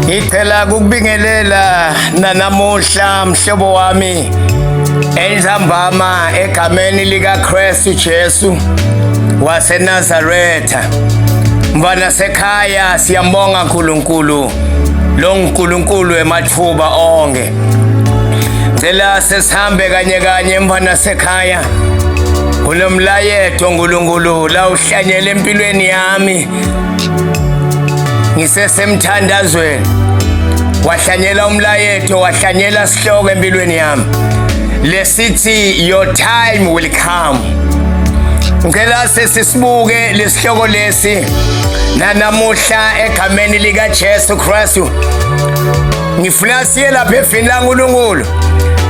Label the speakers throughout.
Speaker 1: Ngicela kukubingelela nanamuhla mhlobo wami entambama egameni likaKristu Jesu waseNazaretha. Mfana sekhaya siyambonga uNkulunkulu lo uNkulunkulu emathuba onke. Ngicela sesihambe kanye kanye mfana sekhaya. Kunomlayeto uNkulunkulu la uhlanyele empilweni yami. ngisesemthandazweni wahlanyela umlayeto wahlanyela sihloko empilweni yami lesithi your time will come ngicela sesisibuke lesihloko lesi nanamuhla egameni lika Jesu Kristu ngifuna siye lapha evini laNkulunkulu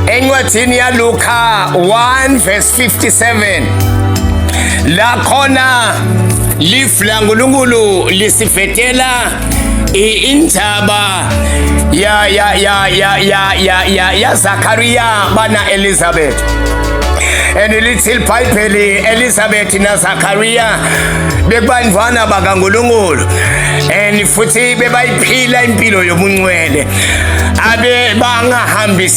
Speaker 1: encwadini yaLuka 1 verse 57 la khona lifu laNkulunkulu lisifetela indaba ya ya ya ya ya ya ya ya Zakaria bana Elizabeth and lithi libhayibheli Elizabeth na Zakaria bekubandvwana bakaNkulunkulu and futhi bebayiphila impilo yobungcwele abe bangahambisa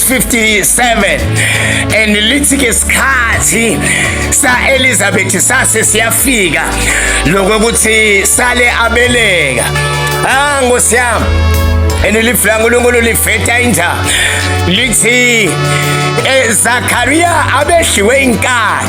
Speaker 1: 57 and lithi ke sikhathi sa Elizabeth sase siyafika lokho ukuthi sale abeleka ah ngosiyami and live la uNkulunkulu liveta inja lithi eZakaria eh, abehliwe inkani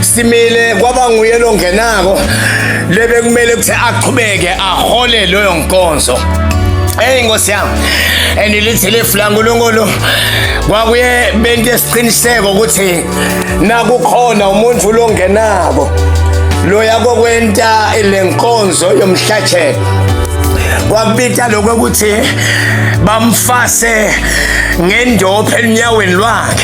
Speaker 1: simile kwaba nguye longenako lebe kumele ukuthi aqhubeke ahole loyo nkonzo Hey Nkosi yami. And lithi lefu la uNkulunkulu kwakuye bente isiqiniseko ukuthi nakukhona umuntu longenako loya kokwenta lenkonzo yomhlathelo. Kwakubita lokho ukuthi bamfase ngendophe enyaweni lwakhe.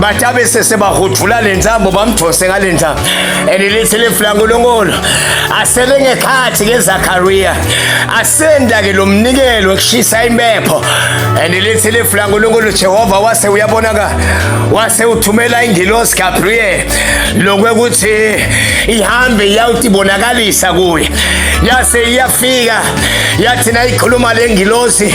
Speaker 1: bathi abese sebahudula le ntambo bamdonse ngale ntambo and lithi lifu lankulunkulu asele ngekhathi ngezakariya asenda-ke lo mnikelo ekushisa impepho and lithi lifu lankulunkulu jehova wase uyabonaka wase uthumela ingilosi gabriel lokwekuthi ihambe iyawuthi ibonakalisa kuye yase iyafika yathi nayikhuluma le ngilosi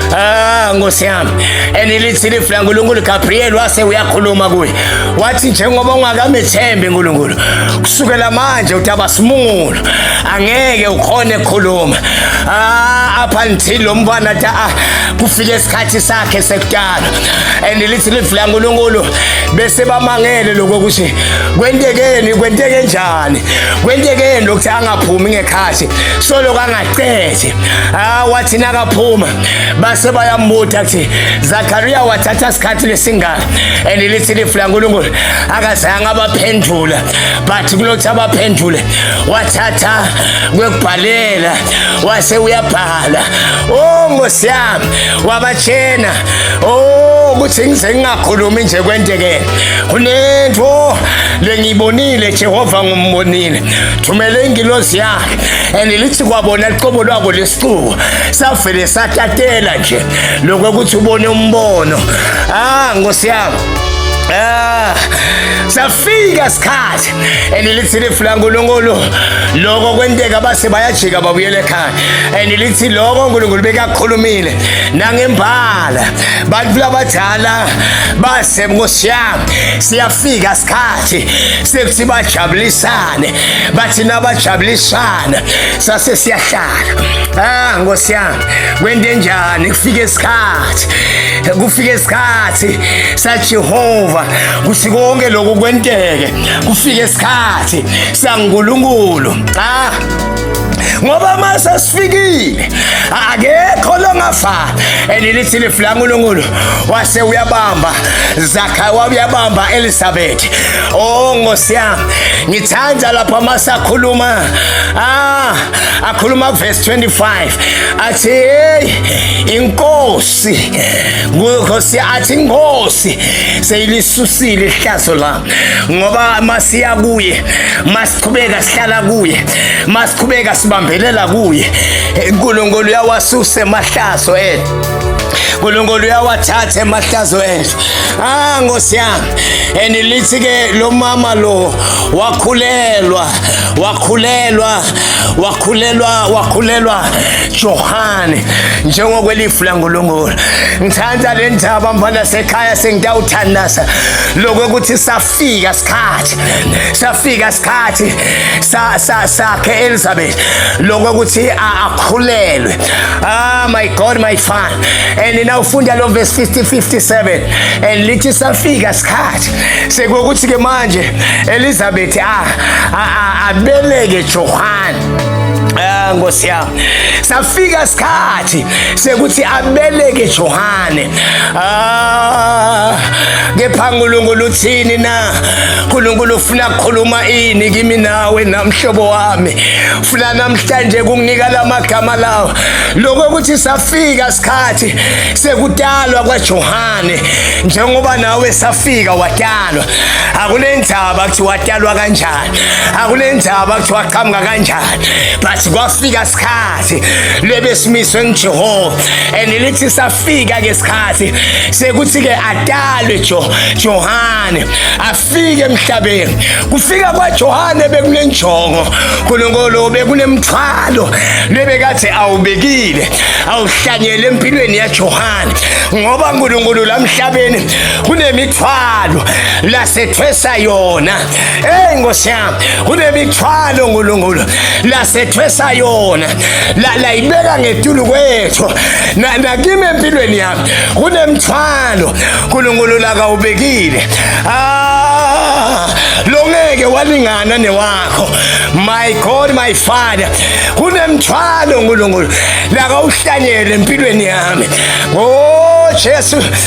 Speaker 1: Ah, Nkosi yami. Enilithi lifu laNkulunkulu Gabriel wase uyakhuluma kuye. Wathi njengoba ungakamethembi uNkulunkulu, kusukela manje utaba simungulo. Angeke ukhone khuluma. Ah, up until lo mfana ta ah, kufike isikhathi sakhe sekudala. Enilithi lifu laNkulunkulu bese bamangele lokho ukuthi kwentekeni, kwenteke njani? Kwentekeni lokuthi angaphumi ngekhathi. Solo kanga cece ah wathi nakaphuma base bayambuta kuthi Zakaria wathatha isikhathi lesingaka and lithi lifu laNkulunkulu akazange abaphendula but kulothi abaphendule wathatha kwekubhalela wase uyabhala oh Nkosi yami wabatshena oh ukuthi ngize ngingakhulumi nje kwenteke kunento lengiyibonile Jehova ngumbonile thumele ingilosi yakhe and lithi kwabona liqobo lwako lesixuku savele satatela nje lokho ukuthi ubone umbono ah nkosi yami Ah, safika isikhathi and lithi lifu laNkulunkulu lokho kwenteka base bayajika babuyele ekhaya and lithi lokho uNkulunkulu bekakhulumile nangembala bantu labadala base nkosiyami siyafika isikhathi bathi sekuthi bajabulisane bathi nabajabulisana sase siyahlala ah nkosi yami kwente njani kufika isikhathi kufika isikhathi saJehova kuthi konke lokhu kwenteke kufika isikhathi saNkulunkulu ah ngoba mase sifikile akekho longafa elilithi lifu lankulunkulu wase uyabamba zakha wabuyabamba elisabeth o oh, nkosi yami ngithanda lapho masakhuluma ah akhuluma verse 25 athi hey inkosi nkosi athi inkosi seyilisusile ihlazo la ngoba masiya kuye masiqhubeka sihlala kuye masiqhubeka sibambelela kuye uNkulunkulu uyawasusa emahlazo ethu uNkulunkulu uyawathatha emahlazo ethu ah Nkosi yami and lithi ke lo mama lo wakhulelwa wakhulelwa wakhulelwa wakhulelwa Johane njengokwelifu langolongolo ngithanda le ndaba mfana sekhaya sengitawuthandaza lokho ukuthi saf safika sikhathi safika sikhathi sa sa sakhe Elizabeth lokho ukuthi akhulelwe ah my god my fan and now ufunda lo verse 50 57 and lithi safika sikhathi sekukuthi ke manje Elizabeth ah abeleke Johann Ah Nkosi yami. Safika isikhathi sekuthi abeleke Johane. Ah kepha uNkulunkulu uthini na? uNkulunkulu ufuna kukhuluma ini kimi nawe namhlobo wami. Ufuna namhlanje kunginika lamagama lawa. Lokho ukuthi safika isikhathi sekudalwa kwaJohane njengoba nawe safika wadalwa. Akunendaba ukuthi wadalwa kanjani. akunendaba kuthiwa qhamuka kanjani but kwafika sikhathi lebesimiswe ngijehova and lithi safika ke sikhathi sekuthi ke adalwe jo johane afike emhlabeni kufika kwajohane bekunenjongo nkulunkulu bekunemthwalo lebekathe awubekile awuhlanyele empilweni yajohane ngoba nkulunkulu lamhlabeni kunemithwalo lasethwesa yona Hey Nkosi yami, kunemithwalo uNkulunkulu lasethwesa yona. La layibeka ngetulu kwethu. Na nakimi empilweni yami kunemthwalo uNkulunkulu la kawubekile. Ah, longeke walingana newakho. My God, my Father, kunemthwalo uNkulunkulu la kawuhlanyele empilweni yami. Oh Jesu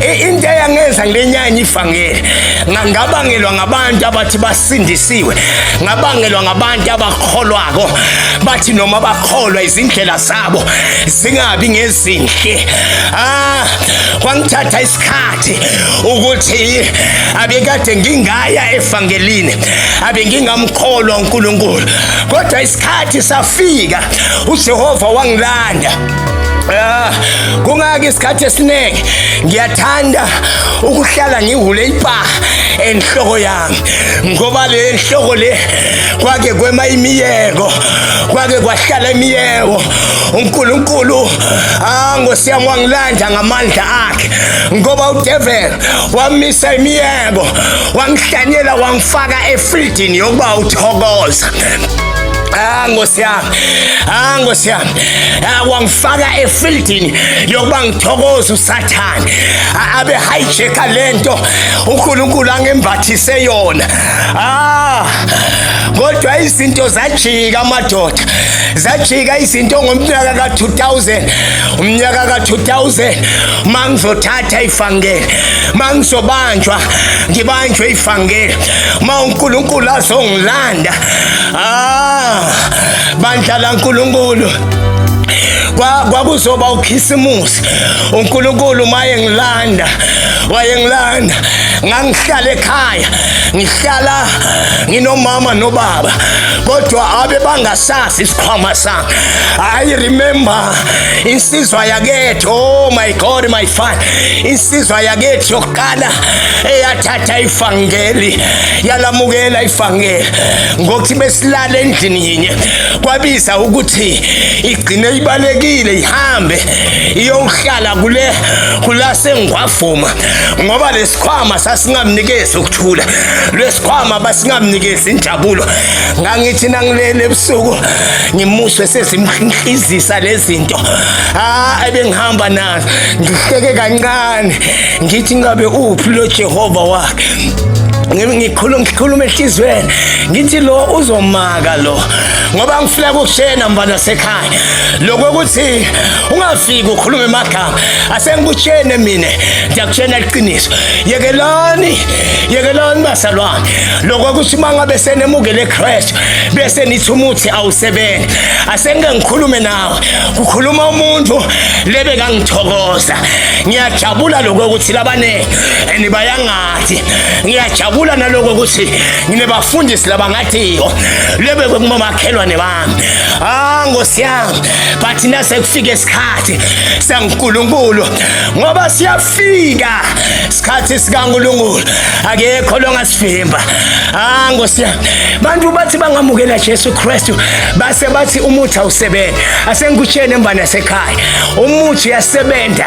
Speaker 1: into eyangenza ngilenyanya ivangeli ngabangelwa ngabantu abathi basindisiwe ngabangelwa ngabantu abakholwako bathi noma bakholwa izindlela zabo zingabi ngezinhle ah kwangithatha isikhathi ukuthi abekade ngingaya evangelini abengingamkholwa uNkulunkulu kodwa isikhathi safika uJehova wangilanda Ah, kungaki isikhathi esiningi ngiyathanda ukuhlala ngihule ipa enhloko yami ngoba le nhloko le kwake kwema imiyeko kwake kwahlala imiyeko uNkulunkulu angosiyami ah, wangilanda ngamandla akhe ngoba udevil wamisa imiyeko wangihlanyela wangifaka efridini yokuba uthokoza Ah, Nkosi yami. Ah, Nkosi yami. eh, wangifaka efieldini yokuba ngithokoze usathane abe hijacker lento uNkulunkulu angembathise yona ah kodwa izinto zajika amadoda zajika izinto ngomnyaka ka-2000 umnyaka ka-2000 uma ngizothatha ifangele uma ngizobanjwa ngibanjwe ifangele uma unkulunkulu azongilanda ah bandla laNkulunkulu kwakuzoba ukhisimusi uNkulunkulu maye ngilanda wayengilanda ngangihlala ekhaya ngihlala nginomama nobaba kodwa abe bangasazi isikhwama sami i remember insizwa yakethu oh my god my father insizwa yakethu yokuqala eyathatha ifangeli yalamukela ifangeli ngokuthi besilala endlini yinye kwabiza ukuthi igcine ibalekile ihambe iyohlala kule kulasengwavuma ngoba lesikhwama sasingamnikezi ukuthula lesikhwama basingamnikezi injabulo ngangithi nangilele ebusuku ngimuswe sezimhlizisa lezinto ah ebengihamba nazo ngihleke kancane ngithi ngabe uphi lo Jehova wakhe ngikhuluma ngikhuluma ehlizweni ngithi lo uzomaka lo ngoba ngifuna ukushena mfana sekhaya lokho ukuthi ungafiki ukhulume emagama asengikushene mina ngiyakushena iqiniso yekelani yekelani basalwane lokho ukuthi uma ngabe senemukele eChrist bese nithi umuthi awusebenzi asengike ngikhulume nawe kukhuluma umuntu lebe kangithokoza ngiyajabula lokho ukuthi labanenge and bayangathi ngiyajabula naloko ukuthi nginebafundisi labangathiyo lebekwe kumamakhelwane bami ah nkosi yami but nase kufike isikhathi sankulunkulu ngoba siyafika isikhathi sikankulunkulu akekho longasivimba ah nkosi yami bantu bathi bangamukela Jesu Kristu base bathi umuthi awusebenzi asengikutshene mbana sekhaya umuthi uyasebenza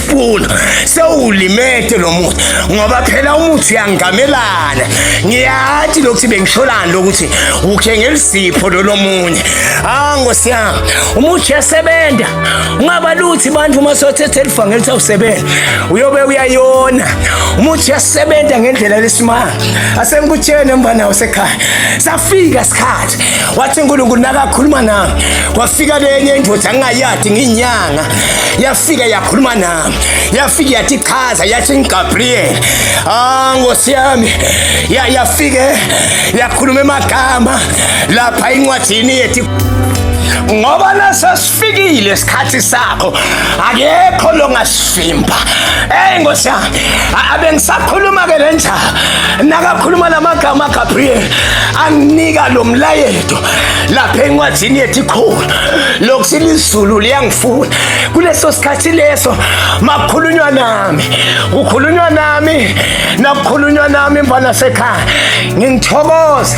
Speaker 1: funa sewulimete lo muthi ngoba phela umuthi uyangamelana ngiyathi lokuthi bengisholani lokuthi ukhe ngelisipho lolomunye ah ngosi yami umuthi yasebenza ungaba luthi abantu uma sothethe elivangeli ukuthi awusebenza uyobe uyayona umuthi yasebenza ngendlela lesimanga asengikutshene mfana wasekhaya safika isikhathi wathi uNkulunkulu nakakhuluma nami kwafika lenye indoda ngingayadi nginyanga yafika yakhuluma nami yafika yathi chaza yathi ngiGabriel ah ngosi yami yafike yakhuluma emagama lapha incwadini yethu ngoba nasa sifikile isikhathi sakho akekho longasivimba eyi nkosi yami abengisakhuluma-ke le nja nakakhuluma la magama gabriel anginika lo mlayeto lapha encwadini yethu ikhulu lokuthi lizulu liyangifuna kuleso sikhathi leso makukhulunywa nami kukhulunywa nami nakukhulunywa nami mfana sekhaya ngingithokoza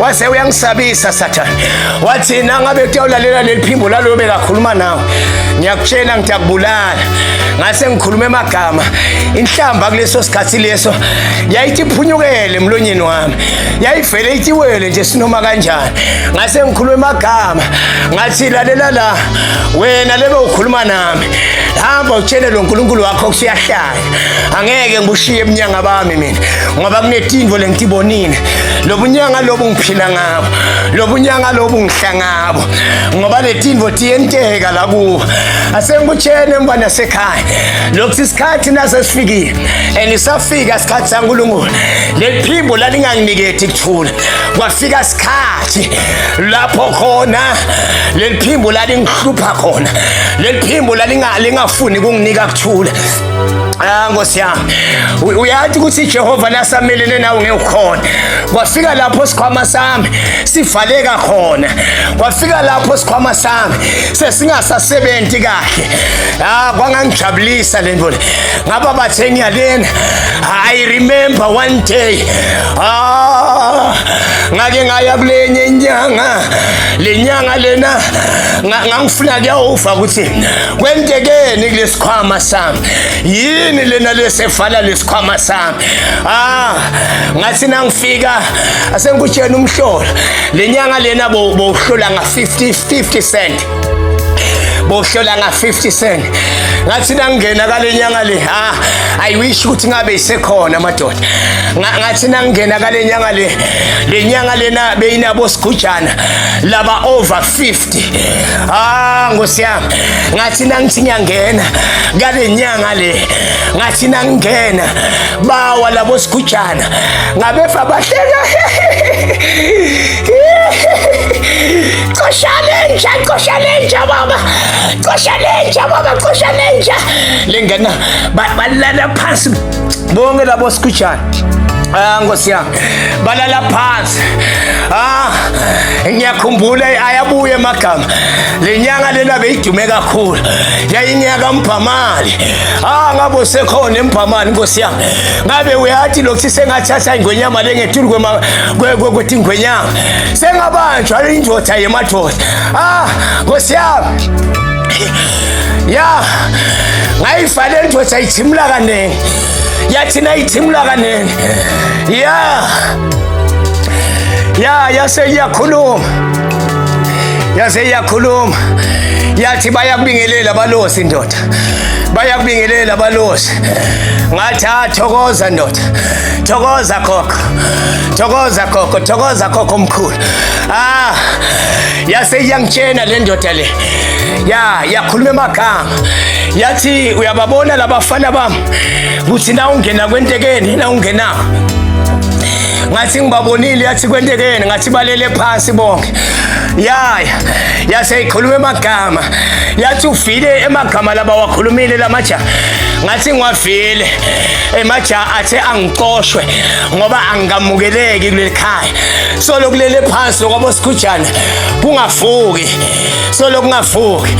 Speaker 1: wase uyangisabisa sathane wathi nangabe kuyawulalela leli phimbo laloyo bekakhuluma nawe ngiyakutshela ngithi akubulala ngase ngikhuluma emagama inhlamba kuleso sikhathi leso yayithi iphunyukele emlonyeni wami yayivele itiwele nje sinoma kanjani ngase ngikhuluma emagama ngathi lalela la wena lebe ukhuluma nami hamba utshele lo nkulunkulu wakho kusiyahlala angeke ngibushiye ebunyanga bami mina ngoba kunetinvo lengitibonile lobunyanga lobu ngiphila ngabo lobunyanga lobu ngihla ngabo ngoba letinvo tiyenteka la kuba asengikutshene emva nasekhaya lokuthi isikhathi nasesifikile and isafika isikhathi sankulunkulu leliphimbo lalinganginiketi kuthula kwafika isikhathi lapho khona leliphimbo lalingihlupha khona leliphimbo lingafuni kunginika thula Ah Nkosi yami uyathi ukuthi Jehova lasamelene nawe ngekukhona kwafika lapho sikhwama sami sivaleka khona kwafika lapho sikhwama sami sesingasasebenzi kahle ah kwangangijabulisa lento le ngaba bathe ngiyalena i remember one day ah ngake ngaya kulenye inyanga lenyanga lena ngangifuna kuyawuva ukuthi kwentekeni kulesikhwama sami yini lena lesevala lesikhwama sami ah ngathi nangifika asengikutshena umhlola lenyanga lena bowuhlola nga 50 50 cent bohlola nga 50 cent ngathi nangena kalenyanga le ha i wish ukuthi ngabe isekhona madoda ngathi nangena kalenyanga le lenyanga lena beyinabo sigujana laba over 50 Ah Nkosi yami ngathi nangithi ngiyangena ngale nyanga le ngathi nangingena bawa labo sigujana ngabefa bahleka Cosha lenja, cosha lenja baba. Cosha lenja baba, cosha lenja. Lengena balala phansi bonke labo sikhujana Ah Nkosi yami balala phansi ah ngiyakhumbula ayabuye emagama lenyanga lena beyidume kakhulu yayinyaka mbhamali ah ngabo sekhona embhamali Nkosi yami ngabe uyathi lokthi sengathatha ingwenyama lengethulu kwema kwethi ingwenyama sengabanjwa indoda yemadoda ah Nkosi yami ya ngayifale ndoda ayithimula kaningi yathina ayithimula kaningi ya ya yase iyakhuluma yase iyakhuluma yathi bayakubingelela balosi ndoda bayakubingelela balosi ngathi ah, thokoza ndoda thokoza gogo thokoza gogo thokoza gogo omkhulu ah yase iyangitshena le ndoda le ya yakhuluma emagama yathi uyababona labafana bami kuthi na ungena kwentekeni na ungena ngathi ngibabonile yathi kwentekeni ngathi balele phansi bonke yaya yase ikhuluma emagama yathi ufile emagama laba wakhulumile lamaja ngathi ngiwavile emaja athe angicoshwe ngoba angikamukeleki kuleli khaya so lokulele phansi lokwabo sikhujana kungafuki solo kungavuki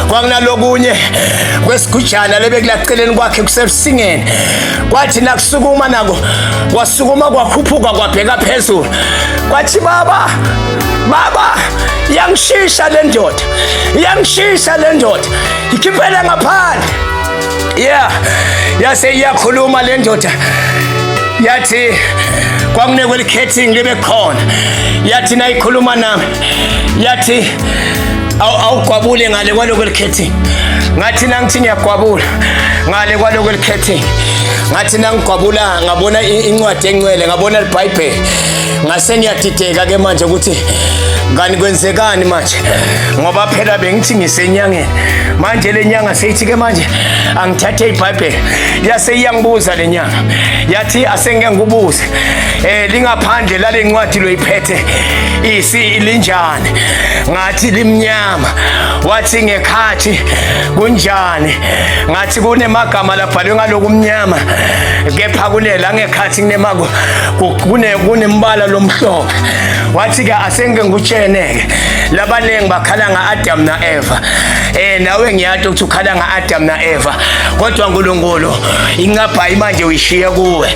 Speaker 1: kwakunalokunye kwesigujana lebekulaceleni kwakhe kusebusingeni kwathi nakusukuma nako kwasukuma kwakhuphuka kwabheka phezulu kwathi baba baba iyangishisha le ndoda iyangishisha le ndoda ikhiphele ngaphandle yeah yase iyakhuluma le ndoda yathi kwakunekwe likhethingi libe khona yathi nayikhuluma nami yathi awugwabule ngale kwaloko elikhethi ngathi nangithi ngiyagwabula ngale kwaloko elikhethi ngathi nangigwabula ngabona incwadi encwele ngabona libhayibheli ngase ngiyadideka ke manje ukuthi ngani kwenzekani manje ngoba phela bengithi ngisenyangeni manje le nyanga seyithi ke manje angithathe ibhayibheli yase iyangibuza le nyanga yathi asengeke ngikubuze um lingaphandle lale ncwadi loyiphethe eside isilinjani ngathi limnyama wathi ngekhathi kunjani ngathi kunemagama labhalwe ngaloku mnyama kepha kulela ngekhathi kunemako kune kunembala lomhlobo wathi ke asenge ngutshene-ke labaningi bakhala nga-adamu na-eva um nawe ngiyati ukuthi ukhala nga-adamu na-eva kodwa nkulunkulu incabhayi manje uyishiye kuwe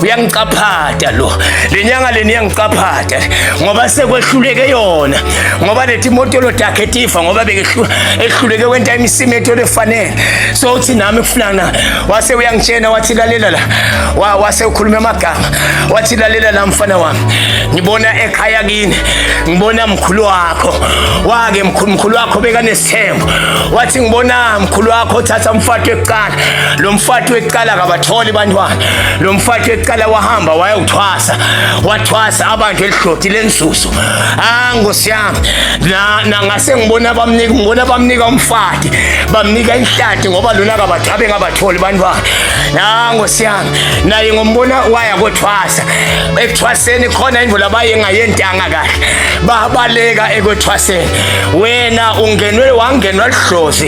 Speaker 1: uyangicaphata lo lenyanga leni yangicaphata ngoba sekwehluleke yona ngoba lethi imoto lodakhe tifa ngoba bekehluleke kwenta imisimetho lefanele so uthi nami kufunana wase uyangitshena wathi lalela la wase ukhuluma amagama wathi lalela la mfana wami ngibona ekhaya kini ngibona mkhulu wakho wake mkhulu mkhulu wakho bekanesithembu wathi ngibona mkhulu wakho thatha umfato ekuqala lo mfati wekuqala kabatholi bantwana lo mfati wekuqala wahamba wayewuthwasa wathwasa abantu elidloti lenzuzo ah nkosi yami nangase ngibona bamnika ngibona bamnika umfati bamnika inhlati ngoba lona kabathabe ngabatholi bantwana ah nkosi yami naye ngombona waya kothwasa ekuthwaseni khona imvula bayengayentanga kahle babaleka ekwethwaseni wena ungenwe wangenwa lidlozi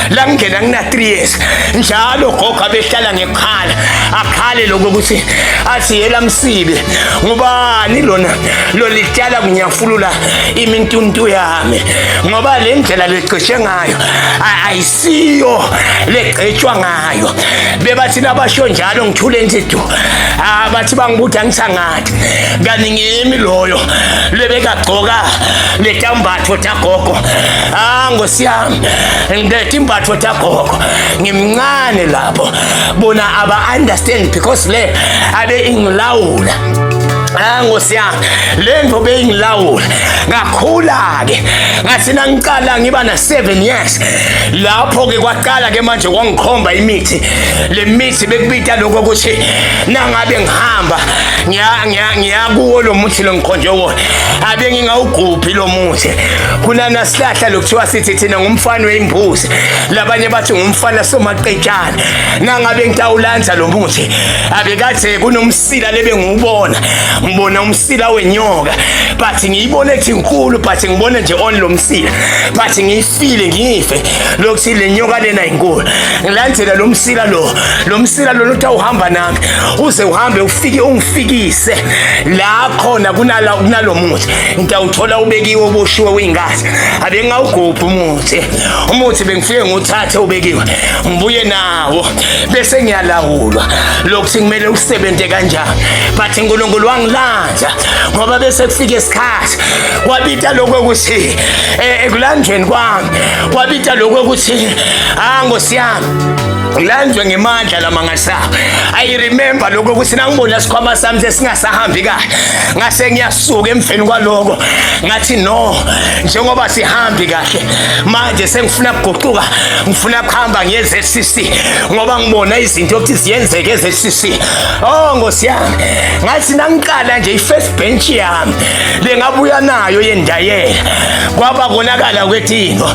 Speaker 1: la ngingena ngina-3 years njalo gogo abehlala ngekhala akhale lokho ukuthi athi yela msibe ngubani lona lolityala kunyafulula imintuntu yami ngoba le ndlela legqishe ngayo ayisiyo legqetshwa ngayo bebathi nabasho njalo ngithule nje du abathi bangibuthi angisangathi kanti ngimi loyo lebekagcoka letambatho gogo ah ngosiyami ngidethi imbatho tagogo ngimncane lapho bona aba understand because le abe ingilawula Ah Nkosi yami lento beyingilawula ngakhula ke ngathi nangiqala ngiba na 7 years lapho ke kwaqala ke manje kwangikhomba imithi lemithi bekubita lokho ukuthi nangabe ngihamba ngiya ngiya ngiya kuwo lo muthi lo ngikhonje wona abe ngingawugubhi lo muthi kunana sihlahla lokuthiwa sithi thina ngumfana weyimbuzi labanye bathi ngumfana somaqetshana nangabe ngitawulandza lo muthi abekade kunomsila lebe ngiwubona ngibona umsila wenyoka but ngiyibona ethi nkulu but ngibona nje on lo msila but file ngife lokuthi le nyoka lena inkulu ngilandela lo msila lo lo msila lona uthi awuhamba nami uze uhambe ufike ungifikise la khona kunala kunalo muthi ngitawuthola ubekiwe uboshiwe uyingazi abe ngawugubha umuthi umuthi bengifike nguthathe ubekiwe ngibuye nawo bese ngiyalawulwa lokuthi kumele usebenze kanjani but uNkulunkulu wangilanda ngizokubiza ngoba bese kufika isikhathi wabita lokho ukuthi eh, ekulanjweni kwami wabita lokho ukuthi ha ah, ngosiyami ngilanjwe ngemandla lamangasaba i remember lokho ukuthi nangibona sikhwama sami sesingasahambi kahle ngase ngiyasuka emveni kwaloko ngathi no njengoba sihambi kahle manje sengifuna kuguquka ngifuna kuhamba ngiye eZCC ngoba ngibona izinto ukuthi ziyenzeke eZCC Oh Nkosi yami, ngathi nangiqala nje ifirst bench yami lengabuya nayo yendayela. Kwaba konakala kwetino.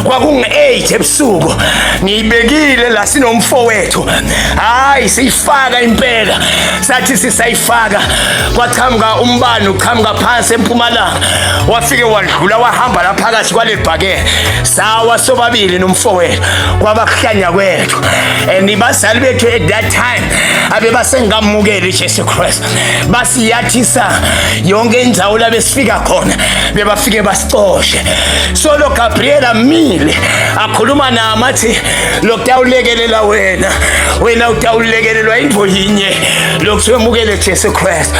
Speaker 1: Kwakungu-8 ebusuku. Ngiyibekile la sinomfowethu. Hayi siyifaka impela. Sathi sisayifaka kwaqhamuka umbani uqhamuka phansi empumalanga. Wafike wadlula wahamba la phakathi kwalebhakela. Sawa sobabili nomfowethu. Kwaba kuhlanya kwethu. And ibazali bethu at that time abebasengamukela iJesu Kristu basiyathisa yonke indawo labesifika khona bebafike basicoshe solo Gabriel amile akhuluma nami athi lokutawulekelela wena wena utawulekelelwa into yinye lokuthiwa emukele Jesu Kristu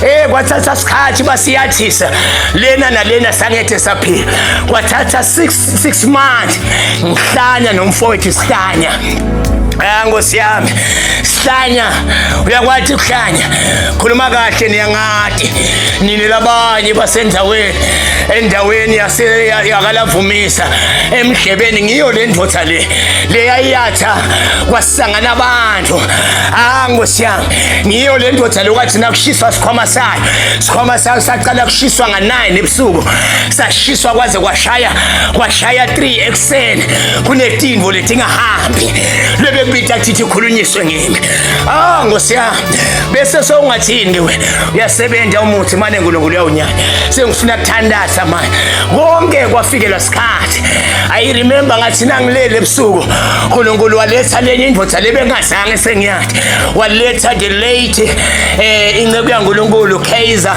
Speaker 1: eh kwathatha isikhathi basiyathisa lena nalena sangethe saphila kwathatha 6 six months ngihlanya nomfowethu sihlanya Ah nkosi yami sihlanya uyakwathi ukuhlanya khuluma kahle niyangati nini labanye basendaweni endaweni yase yakalavumisa emhlebeni ngiyo le ndoda le leyayatha kwasangana abantu ah nkosi yami ngiyo le ndoda lokwathi nakushiswa sikhwama sayo sikhwama sayo saqala kushiswa nga-9 ebusuku kusashiswa kwaze kwashaya kwashaya 3 ekuseni kunetimbo letingahambi lebebita thithi khulunyiswe ngimi ah ngosi yami bese sewungathini ke wena uyasebenza umuthi mane uNkulunkulu uyawunyanya sengifuna kuthandaza manje konke kwafikelwa sikhathi i remember ngathi nangilele ebusuku uNkulunkulu waletha lenye indoda lebengazange sengiyathi waletha the late eh inceku yaNkulunkulu Kaiser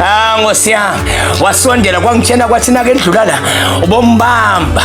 Speaker 1: Ah Nkosi yami wasondela kwangitshena kwathi nake ndlula la ubombamba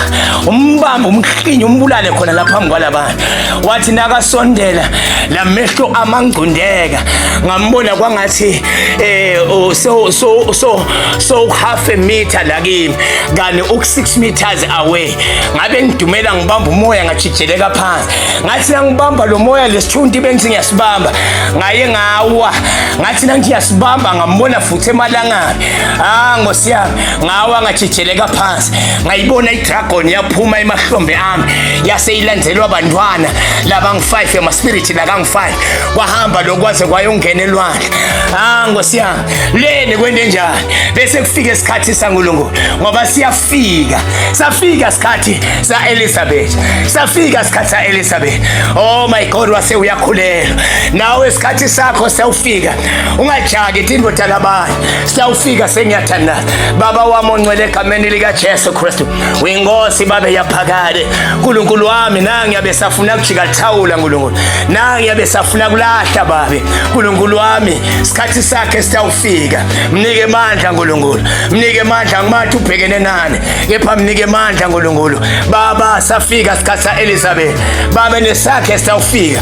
Speaker 1: umbamba umhlinye umbulale khona la phambi kwalabantu wathi nakasondela la mehlo amangcundeka ngambona kwangathi eh oh, so so so so half a meter la kimi kani uk 6 meters away ngabe ngidumela ngibamba umoya ngajijeleka phansi ngathi ngibamba lo moya lesithunti bengithi ngiyasibamba ngaye ngawa ngathi nangithi yasibamba ngambona futhi emalangabi ah ngosi yami ngawa ngajijeleka phansi ngayibona idragon yaphuma emahlombe ami yase ilandelwa abantwana labangu-5 emaspiriti lakangu-5 kwahamba lokwaze kwayongena elwandle ah ngosi yami leni kwente njani bese kufika isikhathi sangulunkulu ngoba siyafika safika sikhathi sa-elizabeth safika sikhathi sa-elizabeth oh my god wase uyakhulelwa nawe isikhathi sakho siyawufika ungajaki thi indoda labanye siyawufika sengiyathandaza baba wami ongcwele egameni likajesu kristu uyinkosi babe yaphakade nkulunkulu wami nangi yabe safuna kujika thawula nkulunkulu nangi yabe safuna kulahla babe nkulunkulu wami isikhathi sakhe siyawufika mnike mandla nkulunkulu mnike mandla ngimathi ubhekene nani kepha mnike mandla nkulunkulu baba safika isikhathi sa-elizabeth babe nesakhe siyawufika